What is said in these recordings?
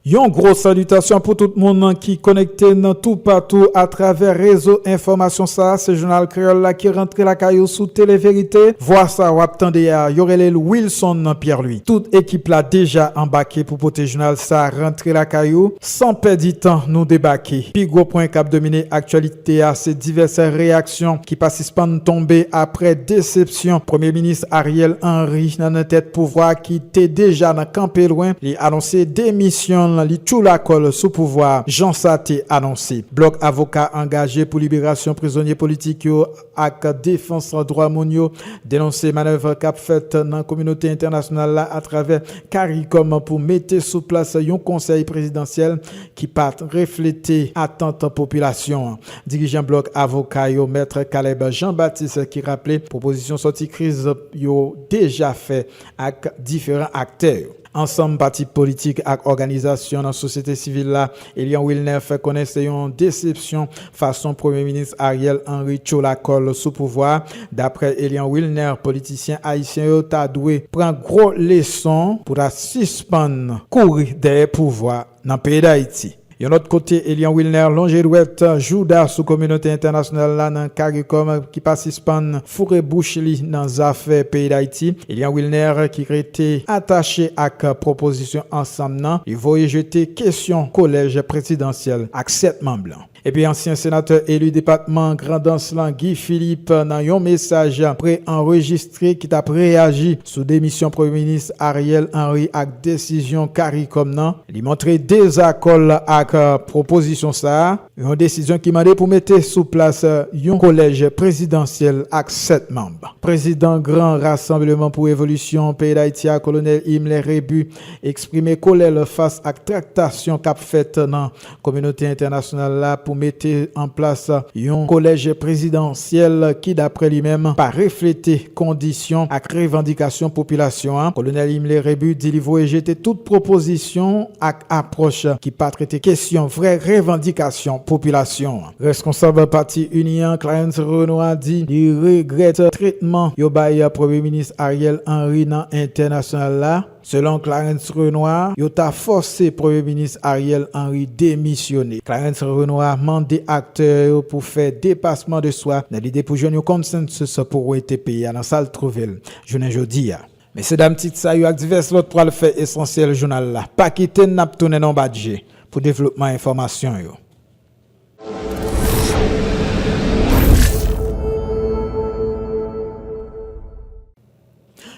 Yon gwo salitasyon pou tout moun ki konekte n toupatou atravè rezo enfòmasyon sa a. Se Jounal Kreyòl la ki rantre lakay ou sou TeleVerite. Vwa sa a w ap tande a, yo rele l Wilson Pierre-Louis. Tout ekip la deja anbake pou pote jounal sa a rantre lakay ou. San pèdi tan, nou debake. Pi gwo pwen k ap domine aktyalite a se divès reyaks. Aksyon ki pa sispann tonbe apre desepsyon Premye Minis Ariel Henry nan tèt pouvwa a ki te deja nan kanpe lwen, li anonse demisyon l, li tchoula kò l sou pouvwa a jan sa te anonse. Blòk avoka angaje pou liberasyon prizonye politik yo ak defans dwa moun yo denonse manèv k ap fèt nan kominote entènasyonal la atravè caricom pou mete sou plas yon konsèy prezidansyèl ki pa reflete atant popilasyon an. Dirijan blòk avoka yo mèt Caleb Jean Baptiste ki raple pwopozisyon sòti kriz yo deja fè ak diferan aktè yo. Ansanm pati politik ak òganizasyon nan sosyete sivil la, Elian Wilner fè konnen se yon desepsyon fason premye minis Ariel Henry tchola kò l sou pouvwa a. Daprè Elian Wilner, politisyen ayisyen yo ta dwe pran gwo leson pou ta sispann kouri dèyè pouvwa a. Nan peyi Dayiti. Yon lòt kote, Eliant Wilner lonje dwèt jouda sou kominote entènasyonal la nan caricom ki pa sispann foure bouch li nan zafè peyi Dayiti. Eliant Wilner ki rete atache ak pwopozisyon ansanm nan, li voye jete kesyon kolèj prezidansyèl ak 7 manm lan. Epi ansyen senatè eli depatman Grandans lan Guy Philippe nan yon mesaj pre-anrejistre ki t ap reyaji sou demisyon premye minis Ariel Henry ak desizyon caricom nan, li montre dezakò l ak pwopozisyon sa a, yon desizyon ki mande pou mete sou plas yon kolèj prezidansyèl ak 7 manb. Prezidan Gran Rasanbleman pou Revolisyon peyi Dayiti a, Kolonèl Himmler Rebu, eksprime kolè l fas ak traktasyon k ap fèt nan Kominote entènasyonal la pou mete an plas yon kolèj prezidansyèl ki daprè li menm pa reflete kondisyon ak revandikasyon popilasyon an, Kolonèl Himmler Rébu di li voye jete tout pwopozisyon ak apwòch ki pa trete kesyon vrè revandikasyon popilasyon an. Reskonsab pati ini an, Clarens Renois di li regrèt tretman yo bay Premye Minis Ariel Henry nan entènasyonal la. Selon Clarens Renois, yo ta fòse Premye Minis Ariel Henry demisyone. Clarens Renois mande aktè yo pou fè depasman de swa nan lide pou jwenn yon consensus pou wete peyi a nan sa l twouve l jounen jodi a. Mesye dam tit sa yo ak divès lòt pral fè esansyèl jounal la. Pa kite n n ap tounen nan w bat je pou devlopman enfòmasyon yo.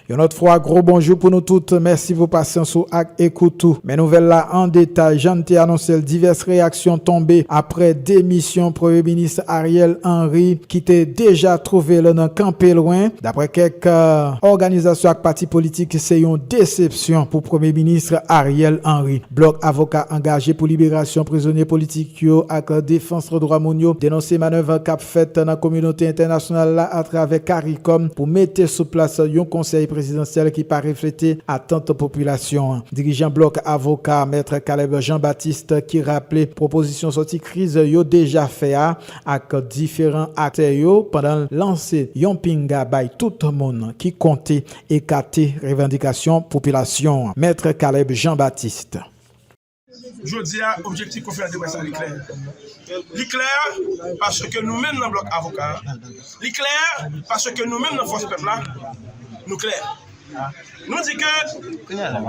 Yon lòt fwa gwo bonjou pou nou tout, mèsi pou pasyans ou ak ekout ou. Men nouvèl la an detay, jan n te anonse l divès reyaksyon tonbe aprè demisyon premye minis Ariel Henry ki te deja twouve l nan kanpe lwen. Daprè kèk òganizasyon ak pati politik se yon desepsyon pou premye minis Ariel Henry. Blòk avoka angaje pou liberasyon prizonye politik yo ak defans dwa moun yo denonse manèv k ap. fèt nan kominote entènasyonal la atravè caricom pou mete sou plas yon konsèy prezidansyèl ki pa reflete atant popilasyon an. Dirijan blòk avoka a, mèt Caleb Jean Baptiste ki raple pwopozisyon sòti kriz yo deja fè a ak diferan aktè yo pandan l lanse yon pinga bay tout moun ki konte ekate revandikasyon popilasyon an. Mèt Caleb Jean Baptiste. Jodi a, objektif konferans de près la li klè. Li klè paske nou menm nan blòk avoka a, li klè paske nou menm nan fòs pèp la, nou klè. Nou di ke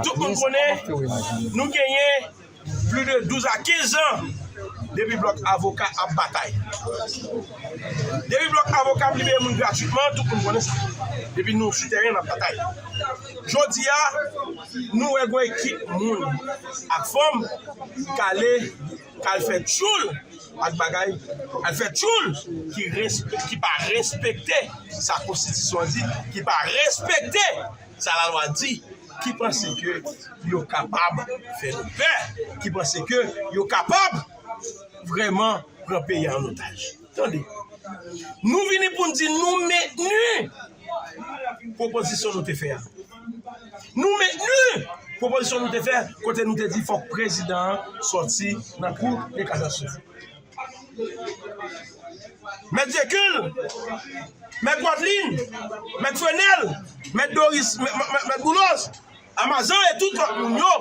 tout moun konnen nou genyen pli de 12 a 15 zan depi blòk avoka ap batay. Depi blòk avoka ap libere moun gratitman, tout moun konnen sa. Depi nou sou tèren ap batay. Jodi a, Nou wè gon ekip moun ak fanm ki kale kal fè tchoul ak bagay al fè tchoul ki pa respekte sa konstitisyon an di ki pa respekte sa la lwa di ki panse ke yo kapab fè nou pè ki panse ke yo kapab vreman pran peyi an otaj. Tande, nou vini pou n di nou mentni pwopozisyon nou te fè a. Nou mentni pwopozisyon nou te fè kote nou te di fòk prezidan an sòti nan kou de kasasyon. Mèt Zekil, mèt Wadlin, mèt Frenèl, mèt Doris, mèt Boulos, Amazan e tout lòt moun yo,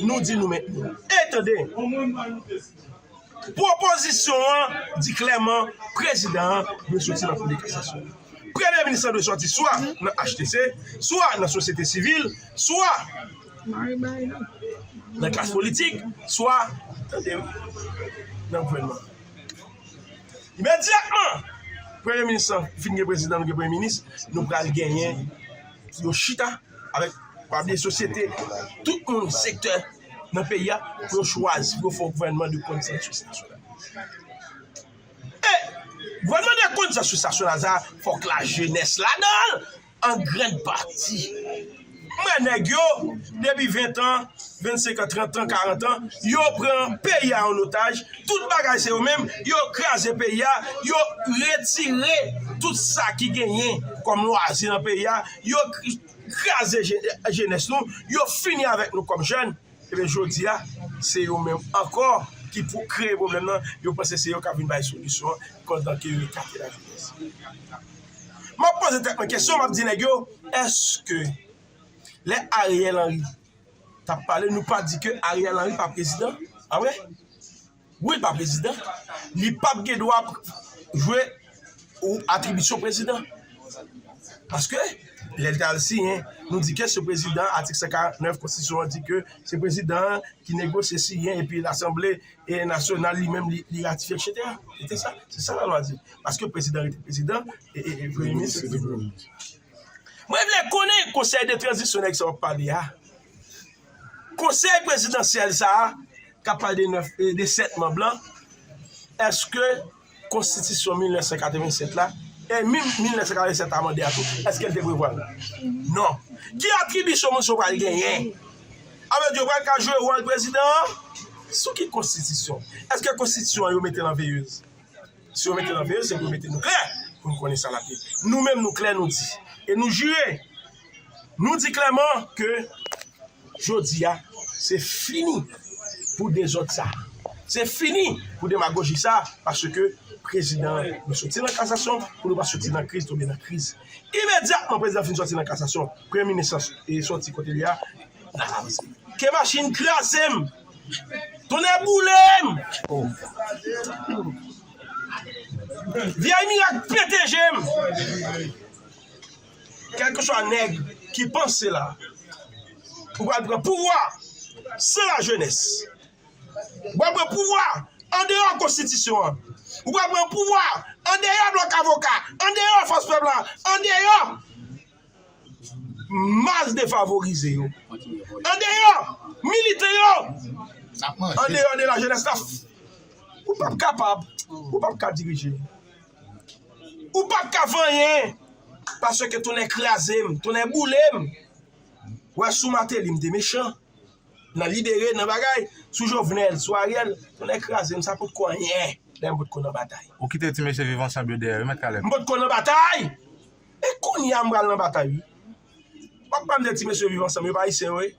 nou di nou mentni. E tande! Pwopozisyon an di klèman prezidan an dwe soti nan Kou de Kasasyon. Premye minis la dwe soti swa nan HTC, swa nan sosyete sivil, swa nan klas politik, swa nan gouvènman an. Imedyatman premye minis lan fin gen prezidan, nou gen premye minis, nou pral genyen yo chita avèk pabli sosyete, tout moun, sektè. nan peyi a pou yo chwazi pou yo fè yon gouvènman de konsansis nasyonal. E, gouvènman de konsansis nasyonal sa a, fòk la jenès ladan l, an grann pati. Mwen nèg yo, depi 20 tan, 25 tan, 30 tan, 40 tan, yo pran peyi a an otaj, tout bagay se yo menm, yo kraze peyi a, yo retire tout sa ki genyen kòm lwazi nan peyi a, yo kraze jenès nou, yo fini avèk nou kòm jèn, ebyen jodi a se yo menm ankò ki pou kreye pwoblèm nan, yo panse se yo kap vin bay solisyon an pandan ke yo ekate lajenès. Map poze tèt mwen kesyon, map di nèg yo, eske lè Ariel Henry tap pale nou pa di ke Ariel Henry pa prezidan? A vre? Wi l pa prezidan, li pap gen dwa jwe ou atribisyon prezidan. Paske, lè l ta al siyen, nou di ke se prezidan, atik 149 konstitisyon an di ke se prezidan an ki negosye siyen epi lasanble e nasyonal li menm li ratifye etsetera. Se sa, se sa lalwa di. Paske prezidan rete prezidan e premye minis rete premye minis. Mwen vle konnen konsèy de tranzisyon nèg sa w ap pale a. Konsèy prezidansyèl sa a kap pale de 9 e de 7 manb lan, eske konstitisyon 1987 la, e minm 1987 amande a tou, eske l te prevwa l? Non. Ki atribisyon moun sa yo pral genyen? Alò yo pral ka jwe wòl prezidan an? Sou ki konstitisyon? Eske konstitisyon an yo mete l an veyez? Si yo mete nan peyi yo, se pou yo mete nou klè pou nou konnen sa n ap ye. Nou menm nou klè nou di e nou jire, nou di klèman ke jodi a se fini pou dezòd sa a, se fini pou demagoji sa a paske prezidan an nou soti nan kasasyon pou nou pa soti nan kriz tonbe nan kriz. Imedyatman prezidan an fin soti nan kasasyon, premye minis lan soti kote li a, n ap avanse. Ke machin kraze m! Tonnè boulem ooh. Vyèy mirak pete jem. Kelkeswa neg ki panse la ou pral pran pouvwa san la jenès. Ou pral pran pouvwa andeyò konstitisyon an. Ou pral pran pouvwa andeyò blòk avoka, andeyò fòs pèp la, andeyò. Mas defavorize yo andeyò militan yo andeyò de lajenès la ou p ap kapab ou p ap ka dirije ou p ap ka fè anyen paske tonnè kraze m tonnè boule m wè sou Mateli m te mechan nan libere nan bagay sou Jovenel sou Ariel tonnè kraze m sa pot ko anyen lè m pot ko nan batay m pot ko nan batay E kounya m pral nan batay wi. Wap pam de ti mesye viv ansanm yo pa ayisyen yo ye.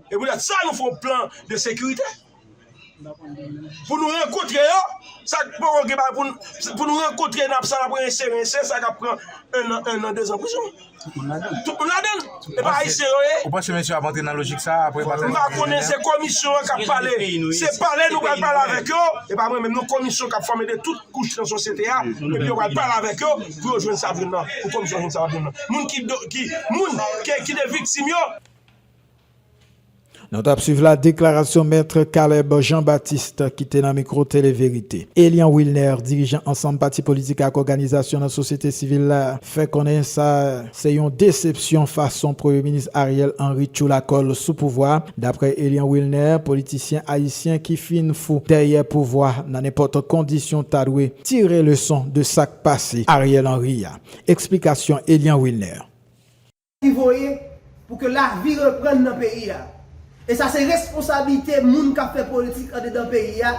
E pou dat sa nou fon plan de sekirite. Pou nou rankotre yo, sa k poko gen bagay pou n, pou nou rankotre sa nap rense rense sa ka pran 1 an 1 an 2 an prizon. Tout moun ladann. E pa ayisyen yo ye? Ou panse mesye ap antre nan lojik sa apre batay Mwen pa konnen se komisyon an kap pale se pale nou pral pale avèk yo e pa mwen menm non komisyon kap fòme de tout kouch nan sosyete a epi yo pral pale avèk yo pou yo jwenn sa yap jwenn nan pou komisyon jwenn sa yap jwenn nan moun ki moun ki de viktim yo Nou tap swiv la deklarasyon Maître Caleb Jean Baptiste ki te nan mikro Tele Verite. Elian Wilner, dirijan ansanm pati politik ak òganizasyon nan sosyete sivil la, fè konnen sa se yon desepsyon fason Premye Minis Ariel Henry tchoula kò l sou pouvwa a. Daprè Elian Wilner, politisyen ayisyen ki fin fou dèyè pouvwa nan nenpòt kondisyon ta dwe tire leson de sa k pase Ariel Henry a. Eksplikasyon Elian Wilner. ki voye pou ke lavi reprann nan peyi a. E sa se responsablite moun k ap fè politik andedan peyi a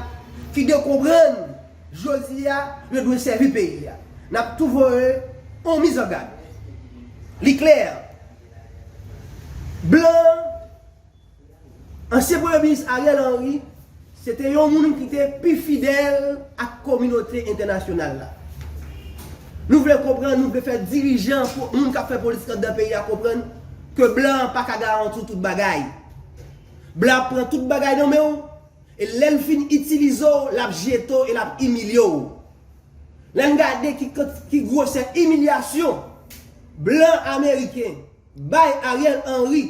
ki dwe konprann jodi a yo dwe sèvi peyi a. N ap tou voye yon mizangad. Li klè, blan. Ansyen premye minis Ariel Henry se te yon moun ki te pi fidèl ak kominote entènasyonal la. Nou vle konprann, nou vle fè dirijan, moun k ap fè politik anndan peyi a konprann ke blan an pa ka garanti w tout bagay. Blan ap pran tout bagay nan men w e lè l fin itilize w, l ap jete w e l ap imilye w. Lè n gade ki gwosè imilyasyon blan ameriken bay Ariel Henry,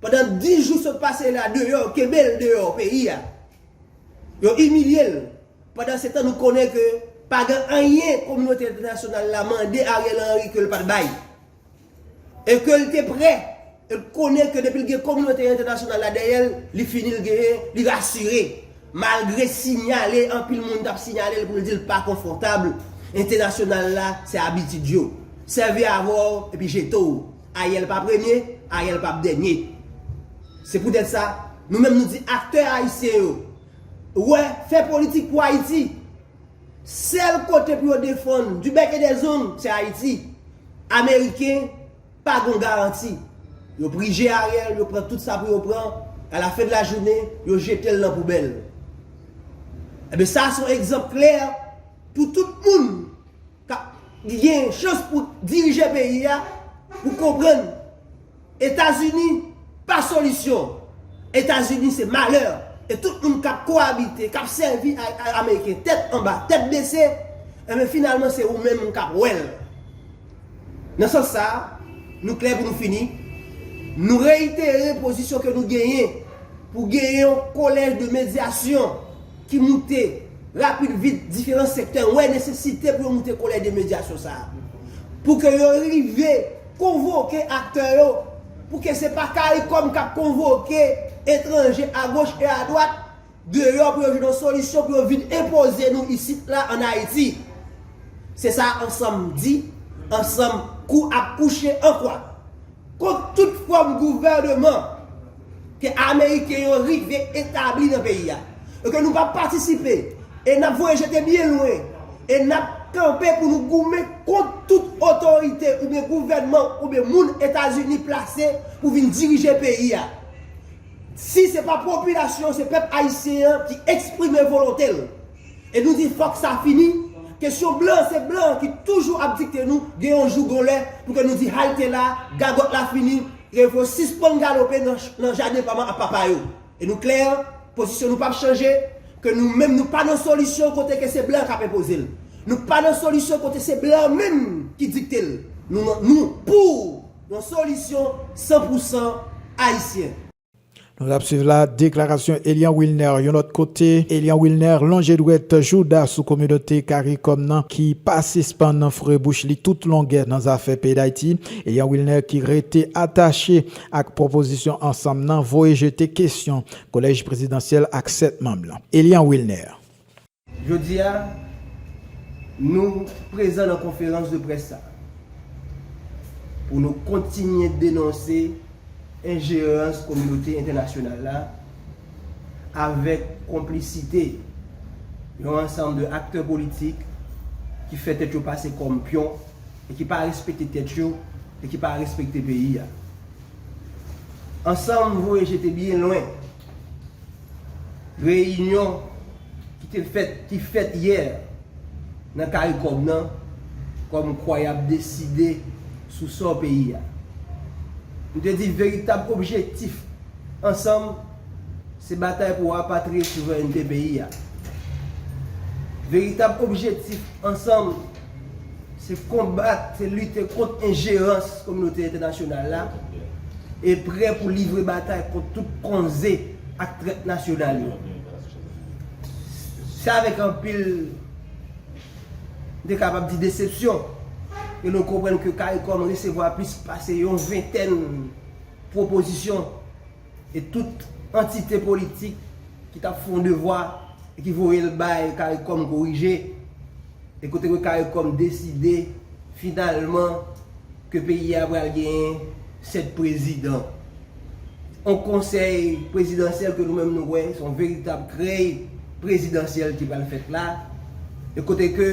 Pandan 10 jou sot pase la deyò kenbel deyò peyi a yo imilye l pandan se tan nou konnen ke pa gen anyen kominote entènasyonal la mande Ariel Henry ke l pat bay e ke l te prè e l konnen ke depi l gen kominote entènasyonal la dèyè l li fini l genyen li rasire malgre sinyale anpil moun tap sinyale l pou l di l pa konfòtab entènasyonal la se abitid yo sèvi avè w epi jete w. Ariel pa premye, Ariel pap dènye. Se poutèt sa, nou menm nou di aktè ayisyen yo, wè, fè politik pou Ayiti. Sèl kote pou yo defann du bec et des ongles, se Ayiti. Ameriken pa gon garanti. Yo prije Ariel, yo pran tout sa pou yo pran, a la fin de la journée, yo jete l nan poubèl. Enben sa a se yon egzanp klè pou tout moun. kap gen chans pou dirije peyi a pou konprann etazini pa solisyon etazini se malè e tout moun kap koabite kap sèvi ak ameriken tèt anba tèt bese enben finalman se ou menm kap wèl nan sans sa nou klè pou nou fini nou reyitere pozisyon ke nou genyen pou genyen yon kolèj de medyasyon ki moute rapid vit diferan sektè wè nesesite pou yo moute kolèj de medyasyon sa a pou ke yo rive konvoke aktè yo pou ke se pa caricom k ap konvoke etranje agoch e adwat deyò pou yo jwenn yon solisyon pou yo vin enpoze nou isit la an Ayiti se sa ansanm di ansanm kou ap kouche ankwa kont tout fòm gouvèneman. ke Ameriken yo rive etabli nan peyi a, e ke nou pa p patisipe, e n ap voye jete byen lwen, e n ap kanpe pou nou goumen kont tout otorite oubyen gouvènman oubyen moun Etazini plase pou vin dirije peyi a. Si se pa popilasyon, se pèp Ayisyen an ki eksprime volonte l. E nou di fòk sa fini, kesyon blan, se blan ki toujou ap dikte nou, gen yon jou, gen yon lè, pou ke nou di halte la, gagòt la fini, Revo sispann galope nan jaden pa man a papa yo. E nou klè, pozisyon nou pap chanje, ke nou menm nou pa nan solisyon kote ke se blan kap enpoze l. Nou pa nan solisyon kote se blan menm ki dikte l. Nou pou yon solisyon san pou san ayisyen. Nou tap swiv la deklarasyon Elian Wilner yon lòt kote Elian Wilner lonje dwèt jouda sou kominote caricom nan ki pa sispann foure bouch li tout longè nan zafè peyi Dayiti Elian Wilner ki rete atache ak pwopozisyon ansanm nan voye jete kesyon kolèj prezidansyèl ak 7 manm lan Elian Wilner. Jodi a, nou prezan nan konferans de près sa a pou nou kontinye denonse enjerans kominote entènasyonal la avèk konplisite yon ansanm de aktè politik ki fè tèt yo pase kòm pyon e ki pa respekte tèt yo e ki pa respekte peyi a. Ansanm voye jete byen lwen. Reyinyon ki te fèt ki fèt yè nan caricom nan kòm kwa yap deside sou sò peyi a. Nou te di veritab objektif ansanm se batay pou rapatriye souverènte peyi a. Veritab objektif ansanm. Se konbat, se lite kont enjerans kominote entènasyonal la e prè pou livre batay kont tout konze ak trèt nasyonal yo. Se avèk anpil, m te kapab di desepsyon, ke nou konprann ke caricom resevwa plis pase yon ventèn pwopozisyon, E tout antite politik ki t ap fè yon devwa e ki voye l bay caricom korije, e kote ke caricom deside finalman ke peyi a pral genyen 7 prezidan. Yon konsèy prezidansyèl ke nou menm nou wè se yon veritab krèy prezidansyèl ki pral fèt la, e kote ke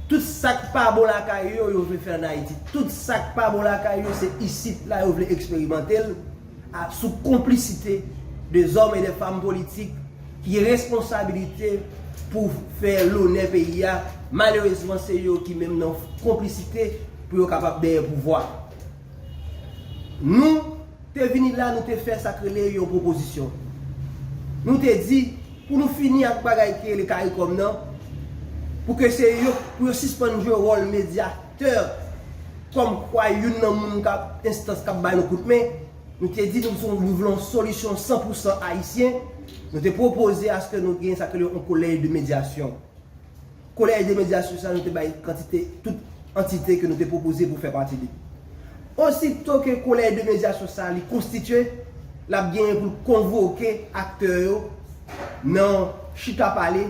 Tout sak pa bon lakay yo, yo vle fè an Ayiti. Tout sak pa bon lakay yo se isit la yo vle eksperimante l a sou konplisite de zòm e de fanm politik ki gen responsabilite pou fè lonè peyi a. Malerezman se yo ki menm nan konplisite pou yo kapab dèyè pouvwa. Nou. te vini la nou te fè sa k rele yon pwopozisyon. Nou te di pou nou fini ak bagay ki rele caricom nan pou ke se yo pou yo sispann jwe wòl medyatè kòm kwa youn nan moun k ap enstans k ap ba nou kout men. Nou te di nou se yon nou vle yon solisyon san pou san ayisyen. Nou te pwopoze aske nou gen sa k rele yon kolèj de medyasyon. Collège des médias sou sa nou te bay kantite tout antite ke nou te pwopoze pou fè pati li. Osito ke Collège des médias sou sa li konstitye, l ap genyen pou l konvoke aktè yo nan chita pale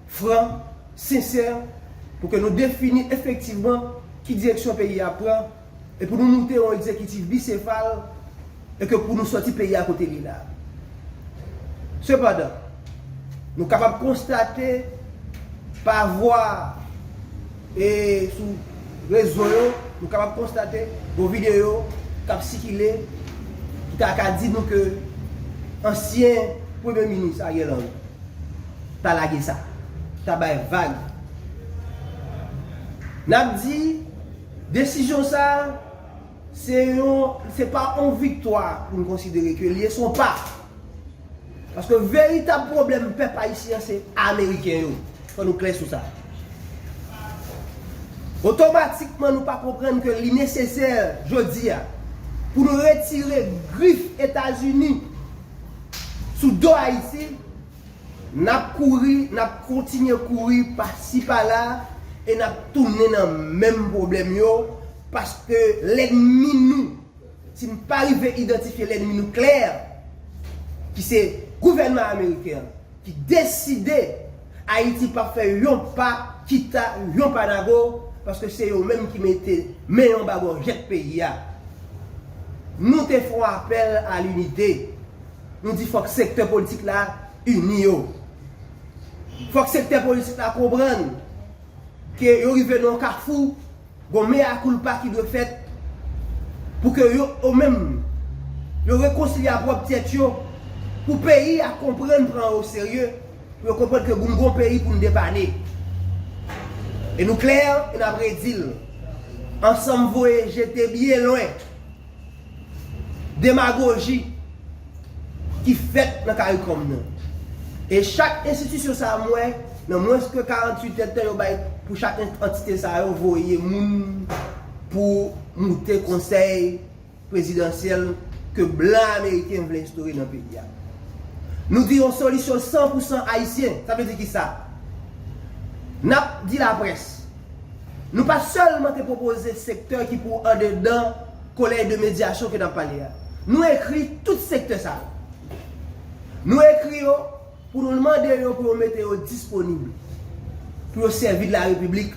fran, sensè, pou ke nou defini efektivman ki direksyon peyi a pran, e pou nou moute yon egzekitif bisefal e ke pou nou sòti peyi a kote li la. Sepandan, nou kapab konstate pa vwa e sou rezo yo, nou kapab konstate yon videyo k ap sikile ki ta ka di nou ke ansyen premye minis Ariel Henry ta lage sa, ta bay vag. N ap di. Desizyon sa a, se yon, se pa yon viktwa pou n konsidere ke l ye, se yon pa. Paske veritab pwoblèm pèp ayisyen an se Ameriken yo. Fò nou klè sou sa. Otomatikman nou pa konprann ke li nesesè jodi a pou nou retire grif Etazini sou do Ayiti. N ap kouri, n ap kontinye kouri pasi pala e n ap tounen nan menm pwoblèm yo paske lènmi nou, si n pa rive idantifye lènmi nou klè, ki se gouvènman ameriken an ki deside Ayiti p ap fè yon pa kita yon pa nago paske se yo menm ki mete men yon ba gòjèt peyi a. Nou te fon apèl a linite. Nou di fòk sektè politik la ini yo. Fòk sektè politik la konprann ke yo rive nan yon kafou, gon mea culpa ki dwe fèt pou ke yo menm yo rekonsilye a pwòp tèt yo, pou peyi a konprann pran yo oserye, pou yo konprann ke nou gon peyi pou n depanne. E nou klè e n ap redi l, ansanm voye jete byen lwen. demagoji ki fèt nan karikom nan. E chak enstitisyon sa a m wè nan mwens ke 48 èdtan yo bay pou chak antite sa yo voye moun pou moute konsèy prezidansyèl ke blan ameriken vle enstore nan peyi a. Nou di yon solisyon san pou san ayisyen, sa vle di kisa? N ap di laprès. Nou pa sèlman te pwopoze sektè ki pou andedan Collège de médiation ke n ap pale a. Nou ekri tout sektè sa yo. Nou ekri yo pou nou mande yo pou yo mete yo disponib pou yo sèvi de la Repiblik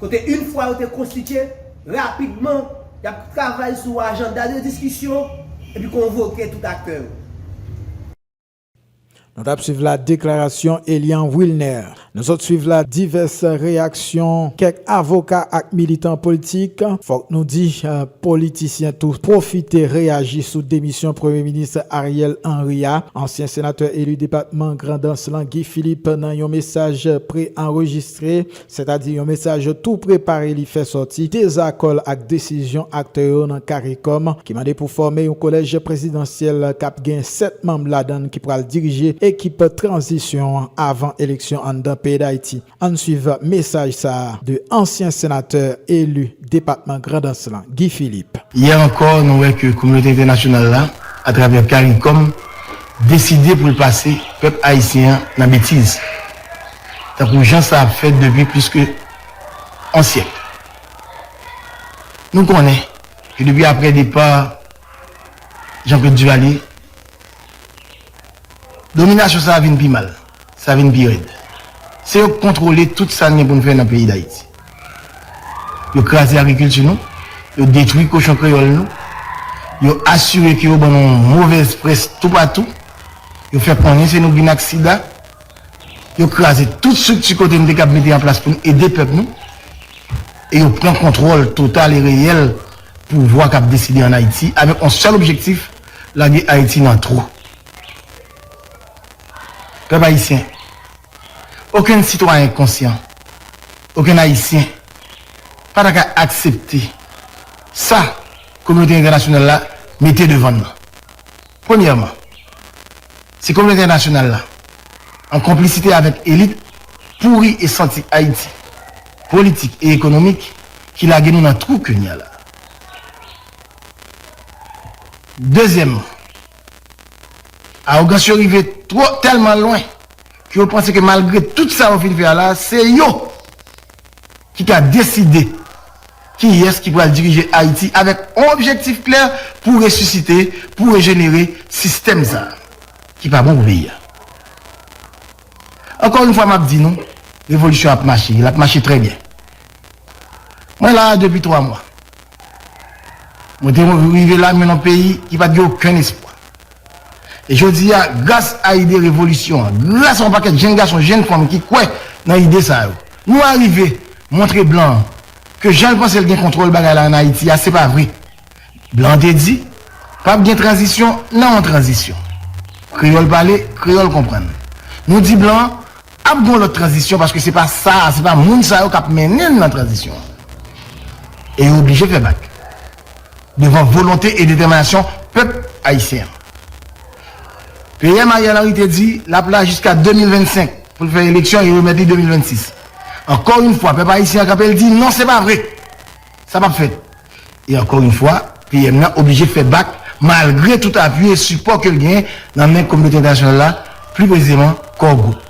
kote yn fwa yo te konstitye, rapidman y ap travay sou ajanda de diskisyon epi konvoke tout aktè yo. Nou tap swiv la deklarasyon Elian Wilner. Nou sot swiv la divès reyaksyon kèk avoka ak militan poltik. Fòk nou di politisyen tou pwofite reyaji sou demisyon Premye Minis Ariel Henry a. Ansyen senatè eli depatman Grandans lan Guy Philippe nan yon mesaj pre-anrejistre sètadi yon mesaj yo tou prepare li fè sòti dezakò l ak desizyon aktè yo nan caricom ki mande pou fòme yon kolèj prezidansyèl k ap gen 7 manm ladan l ki pral dirije ekip tranzisyon an avan eleksyon anndan peyi Dayiti. Ann swiv mesaj sa a de ansyen senatè eli depatman Grandans lan, Guy Philippe. Yè ankò nou wè ke kominote entènasyonal la atravè caricom deside pou l pase pèp ayisyen an nan betiz. tankou jan sa ap fèt depi plis ke on syèk. Nou konnen ke depi apre depa Jean-Claude Duvalier, dominasyon sa a vin pi mal, sa vin pi rèd. Se yo k kontwole tout sa n gen pou n fè nan peyi Dayiti. Yo kraze agrikilti nou, yo detwi kochon kreyòl nou, yo asire ke yo ban nou movèz près toupatou, yo fè konnen se nou k vin ak sida, Yo kraze tout strikti kote nou te kab mete an plas pou n ede pèp nou e yo pran kontwòl total e reyèl pouvwa k ap deside an Ayiti avèk yon sèl objektif, lage Ayiti nan twou. Pèp ayisyen, okenn sitwayen konsyan, okenn Ayisyen pa ta ka aksepte sa kominote entènasyonal la mete devan n nan. Premyèman, si kominote entènasyonal la, an konplisite avèk elit pouri e santi Ayiti, politik e ekonomik, ki lage nou nan twou ke n ya la. Dezyèmman, awogans yo rive twò, tèlman lwen, ke yo panse ke malgre tout sa yo fin fè a la, se yo, ki ka deside kiyès ki pral dirije Ayiti avèk on objektif klè pou resisite, pou rejenere sistèm sa a ki pa bon pou peyi a. Ankò yon fwa m ap di nou, revolisyon ap mache, l ap mache trè byen. Mwen la a depi twa mwa. Mwen te rive la men nan peyi ki pa t gen okenn espwa. Jodi a, gras a ide revolisyon an, gras a yon pakèt jenn gason, jenn fanm ki kwè nan ide sa yo, nou arive montre blan an ke jan l panse l gen kontwòl bagay la ann Ayiti a, se pa vre. Blan an te di, p ap gen tranzisyon nan yon tranzisyon. Kreyòl pale, kreyòl konprann. Nou di blan an, ap gen yon lòt tranzisyon paske se pa sa a, se pa moun sa yo k ap mennen n nan tranzisyon an. E yo oblije fè bak. Devan volonte e detèminasyon pèp ayisyen an, PM Ariel Henry te di l ap la jiska 2025 pou l fè eleksyon e remèt li 2026. Ankò yon fwa, pèp ayisyen an kanpe, l di non se pa vre, sa p ap fèt. E ankò yon fwa, PM nan oblije fè bak malgre tout apui e sipò ke l gen nan men kominote entènasyonal la, pli presizeman Core Group.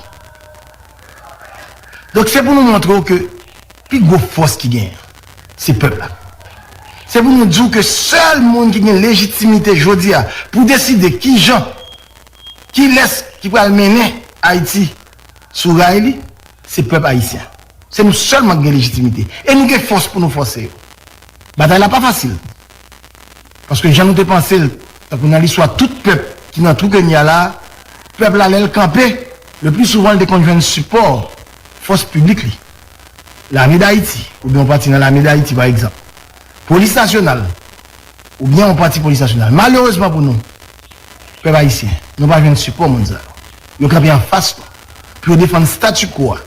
Donk se pou nou montre w ke. Pi gwo fòs ki genyen an, se pèp la. Se pou nou di w ke sèl moun ki gen lejitimite jodi a pou deside ki jan, kilès ki pral mennen Ayiti sou ray li, se pèp ayisyen. Se nou sèlman ki gen lejitimite. E nou gen fòs pou nou fòse yo. Batay la pa fasil. Paske jan nou te panse l, tankou nan listwa tout pèp ki nan twou ke n ye a la, pèp la lè l kanpe, le pli souvan l te konn jwenn sipò fòs piblik li. Lame Dayiti oubyen yon pati nan Lame Dayiti pa egzanp, Polis Nasyonal oubyen yon pati Polis Nasyonal. Malerezman pou nou, pèp ayisyen, nou pa jwenn sipò moun sa yo. Yo kanpe anfas nou pou yo defann statu quo a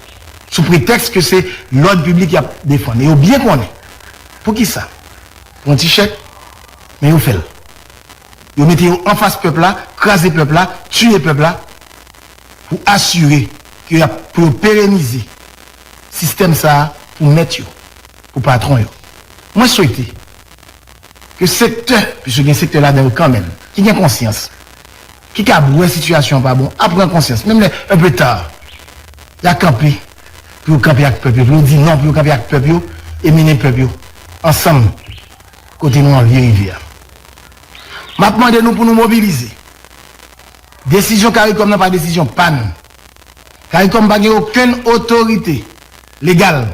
sou pretèks ke se lòd piblik y ap defann e yo byen konnen pou ki sa. Pou yon ti chèk, men yo fè l. Yo mete yo anfas pèp la, kraze pèp la, tiye pèp la. pou asire ke y ap pou yo perenize sistèm sa a pou mèt yo, pou patwon yo. Mwen swete ke sektè, piske gen sektè ladan yo kanmenm ki gen konsyans, ki kab wè sitiyasyon an pa bon, a pran konsyans, menm lè un peu tard, y a kanpe pou yo kanpe ak pèp yo, pou yo di non, pou yo kanpe ak pèp yo e mennen pèp yo ansanm kote nou anvi rive a. M ap mande nou pou nou mobilize. Desizyon caricom nan pa desizyon pa nou. Caricom pa gen okenn otorite legal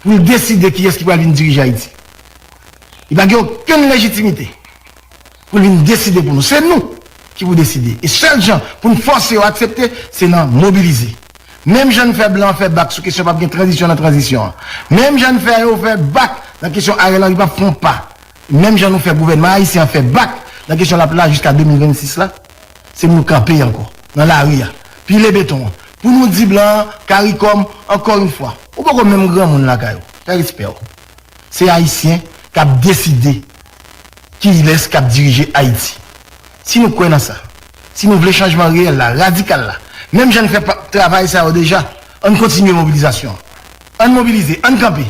pou l deside kiyès ki pral vin dirije Ayiti. Li pa gen okenn lejitimite pou l vin deside pou nou. Se nou ki pou deside. E sèl jan pou n fòse yo aksepte, se nan mobilize. Menm jan n fè blan fè bak sou kesyon pap gen tranzisyon nan tranzisyon an. Menm jan n fè yo fè bak nan kesyon Ariel Henry pap fè yon pa. Menm jan nou fè gouvènman ayisyen an fè bak nan kesyon lap la jiska 2026 la, se pou nou kanpe ankò nan lari a, pile beton an, pou nou di blan an, caricom, ankò yon fwa, ou poko menm granmoun lakay ou, fè respè w. Se ayisyen kap deside kilès kap dirije Ayiti. Si nou kwè nan sa, si nou vle chanjman reyèl la, radikal la, menm jan n fè travay sa yo deja, ann kontinye mobilizasyon an. Ann mobilize, ann kanpe!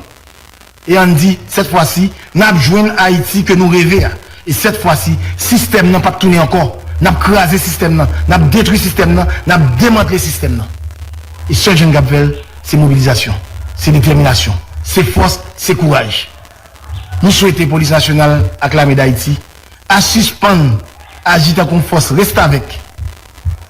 E ann di, sèt fwa si, n ap jwenn Ayiti ke nou reve a. E sèt fwa si, sistèm nan p ap tounen ankò. N ap kraze sistèm nan. N ap detwi sistèm nan. N ap demantle sistèm nan. E sèl jan n kab fè l, se mobilizasyon, se detèminasyon, se fòs, se kouraj. Nou swete Polis Nasyonal ak Lame Dayiti a sispann aji tankou yon fòs restavèk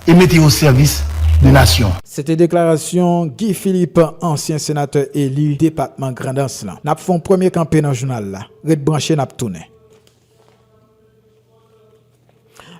e mete yo o sèvis de nasyon. Se te deklarasyon Guy Philippe, ansyen senatè eli depatman Grandans lan. N ap fè yon premye kanpe nan jounal la. Ret branche, n ap tounen.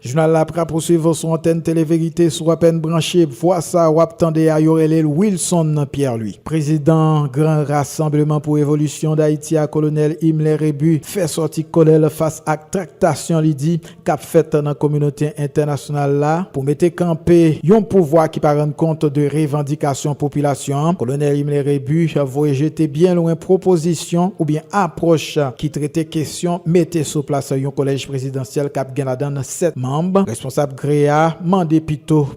Jounal la ap rapousuiv sou antèn Tele Verite. Si w apèn branche, vwa sa a w ap tande a, yo rele l Wilson Pierre Louis. Prezidan Gran Rasanbleman pou Revolisyon Dayiti a, Kolonèl Imler Rebu, fè sòti kòlè l fas ak traktasyon li di k ap fèt nan kominote entènasyonal la pou mete kanpe yon pouvwa ki pa rann kont de revandikasyon popilasyon an. Kolonèl Imler Rebu voye jete byen lwen pwopozisyon oubyen apwòch ki trete kesyon mete sou plas yon kolèj prezidansyèl k ap gen ladan n 7 manm. Responsab GREA mande pito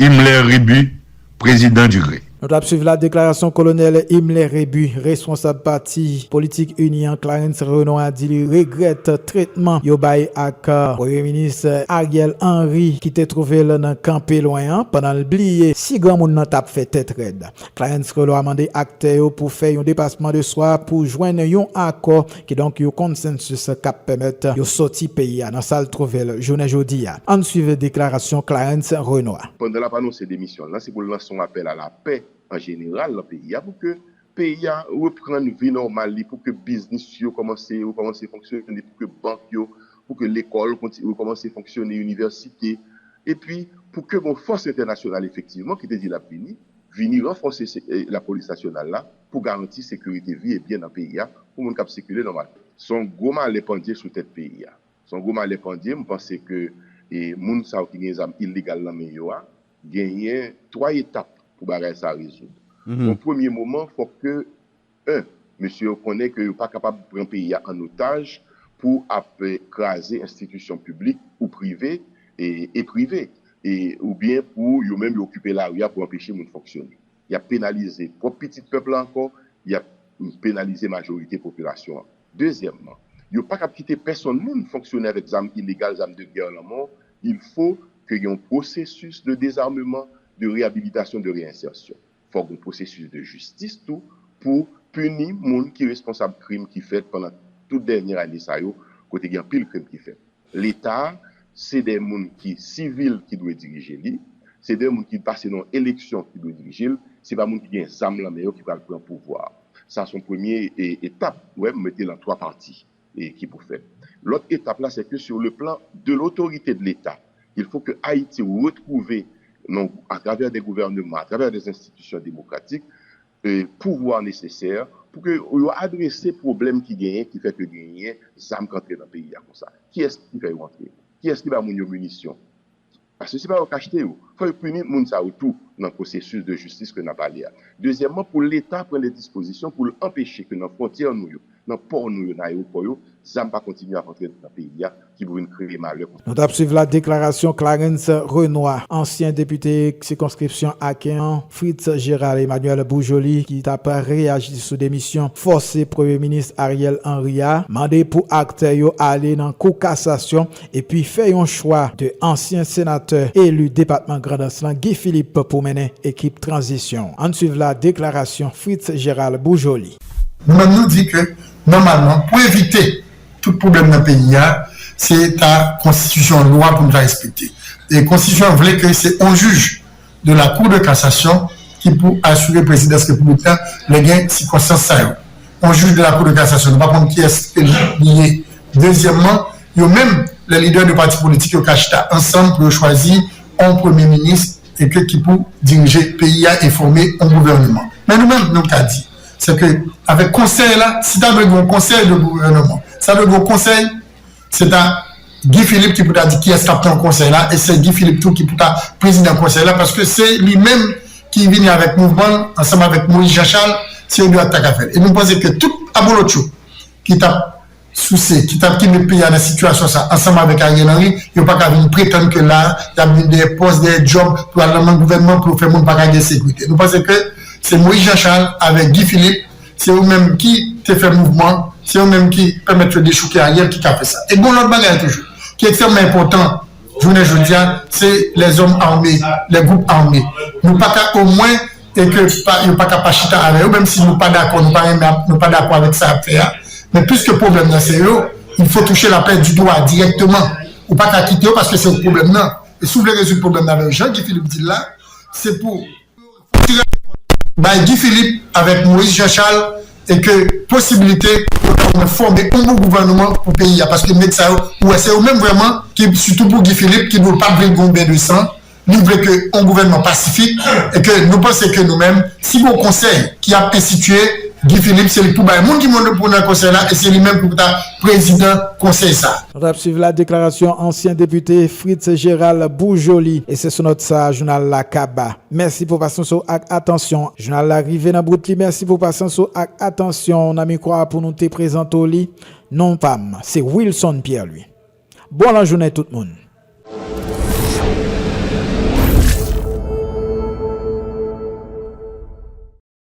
Himmler Rebu, prezidan di gre. Nou tap swiv la deklarasyon kolonèl Himmler Rebu, responsab pati politik ini an Clarens Renon a di li regrèt tretman yo bay ak premye minis Ariel Henry ki te twouve l nan kan pi lwen an pandan l bliye si granmoun nan tap fè tèt rèd. Clarens Renon a mande aktè yo pou fè yon depasman de swa pou jwenn yon akò Kidonk yon konsensis k ap pèmèt yo sòti peyi a nan sa l twouve l jounen jodi a. Ann swiv deklarasyon Clarens Renois. Pandan l ap anonse demisyon l lan, se pou l lanse yon apèl a lapè an jeneral nan peyi a pou ke peyi a reprann vi nòmal li, pou ke biznis yo kòmanse rekòmanse fonksyone, pou ke bank yo, pou ke lekòl konti rekòmanse fonksyone, inivèsite, epi pou ke gen yon fòs entènasyonal efektivman ki te di l ap vini, vini ranfòse lapolis nasyonal la. pou garanti sekirite vi e byen nan peyi a pou moun k ap sikile nòmalman. Se yon gwo malè pandye sou tèt peyi a. Se yon gwo malè pandye, m panse ke moun sa yo ki gen zam illegal nan men yo a, genyen 3 etap pou bagay sa a rezoud. Yon premye moman, fòk ke 1 mesye yo konnen ke yo pa kapab pran peyi a an otaj pou ap kraze enstitisyon piblik ou prive e prive e oubyen pou yo menm yo okipe lari a pou anpeche moun fonksyone. Y ap penalize pwòp pitit pèp la ankò, y ap penalize majorite popilasyon an. Dezyèmman, yo pa kab kite pèsonn moun fonksyone avèk zam ilegal, zam de gè lanmò, il fo ke gen yon pwosesis de dezarmeman, de reyabilitasyon, de reyensèsyon. Fòk gen yon pwosesis de jistis tou pou pini moun ki responsab krim ki fèt pandan tout dènyè ane sa yo kote gen anpil krim ki fèt. Leta a, se de moun ki sivil ki dwe dirije li, se de moun ki pase nan yon eleksyon ki dwe dirije l, se pa moun ki gen zam lan men yo ki pral pran pouvwa a. Sa se yon premye etap, ou wè m mete l an 3 pati ki pou fèt. Lòt etap la, se ke sur le plan de l'autorité de l'Etat, il faut que Ayiti retwouve nan, a travè de gouvèneman, a travè de enstitisyon demokratik, pouvwa nesesè pou ke yo adrese pwoblèm ki genyen ki fè ke genyen zam k antre nan peyi a konsa. Kiyès ki fè yo antre? Kiyès ki ba moun yo minisyon? Paske se pa yo k achte yo. Fò yo pini moun sa yo tou nan pwosesis de jistis ke n ap pale a. Dezyèmman, pou leta pran de dispozisyon pou l anpeche ke nan fwontyè nou yo, nan pò nou yo, nan ayewopò yo, zam pa kontinye ap antre nan peyi a ki pou vin kreye malè pou. Nou tap swiv la deklarasyon Clarens Renois, ansyen depite sikonskripsyon Aken an, Fritz Gérald Emmanuel Bourjoly ki tap reyaji sou demisyon fòse premye minis Ariel Henry a, mande pou aktè yo ale nan kou kasasyon epi fè yon chwa de ansyen senatè eli depatman Grandans lan Guy Philippe pou mennen ekip tranzisyon. Ann swiv la deklarasyon Fritz Gérald Bourjoly. Nou menm nou di ke nòmalman pou evite tout pwoblèm nan peyi a, se ta konstitisyon an, lwa pou nou ta respekte. E konstitisyon an vle ke se on jij de la kou de kasasyon ki pou asire prezidans repiblik la lè gen sikonstans sa yo. On jij de la kou de kasasyon nou pa konn kiyès ke li ye. Dezyèmman, yo menm lè lidè de pati politik yo ka chita ansanm pou yo chwazi on premye minis, Eke ki pou dirije peyi a e fòme on gouvèneman. Men nou menm, nou ka di, se ke avèk konsèy la, si ta dwe gen on konsèy de gouvèneman, si ta dwe gen on konsèy, se ta Guy Philippe ki pou ta di kiyès k ap nan konsèy la e se Guy Philippe tou ki pou ta prezidan konsèy la paske se li menm ki vini avèk mouvman l ansanm avèk Moïse Jean Charles, se yo 2 a k ta ka fè l. E nou panse ke tout abolotcho ki t ap. souse, ki t ap kenbe peyi a nan sitiyasyon sa ansanm avèk Ariel Henry, yo pa ka vin pretann ke la a, y ap vin dèyè pòs, dèyè djòb, pou al nan men gouvènman pou yo fè moun pa ka gen sekirite. Nou panse ke se Moïse Jean Charles avèk Guy Philippe, se yo menm ki te fè mouvman, se yo menm ki pèmèt yo dechouke Ariel ki ka fè sa. E gen yon lòt bagay toujou, ki ekstrèmman enpòtan jounen jodi a se lèzòm ame, lè gwoup ame. Nou pa ka omwen e ke yo pa ka pa chita avè yo menm si nou pa dakò, nou pa renmen ak, nou pa dakò avèk sa y ap fè a. Men piske pwoblèm nan se yo, il fo touche lapè di do a dirèkteman. Ou pa ka kite yo paske se yo k pwoblèm nan. E si w vle rezoud pwoblèm nan avè yo jan Guy Philippe di l la, se pou. pou tire ale kont bay Guy Philippe avèk Moïse Jean Charles e ke posibilite pou yo ta ou mwen fòme yon bon gouvèneman pou peyi a paske nèg sa yo ou wè se yo menm vrèman ki sitou pou Guy Philippe ki di w pat vle gen yon ben de san li vle ke yon gouvèneman pasifik e ke nou panse ke nou menm si gon konsèy ki ap enstitiye Guy Philippe se li pou bay moun ki moun pou nan konsèy la e se li menm ki pou ta prezidan konsèy sa. Nou tap swiv la deklarasyon ansyen depite Fritz Gérald Bourjoli e se sou nòt sa a jounal la kaba. Mèsi pou pasyans ou ak atansyon. Jounal la rive nan bout li mèsi pou pasyans ou ak atansyon w nan mikwa a pou nou te prezante w li. Non pa m se Wilson Pierre Louis. Bon lajounen tout moun.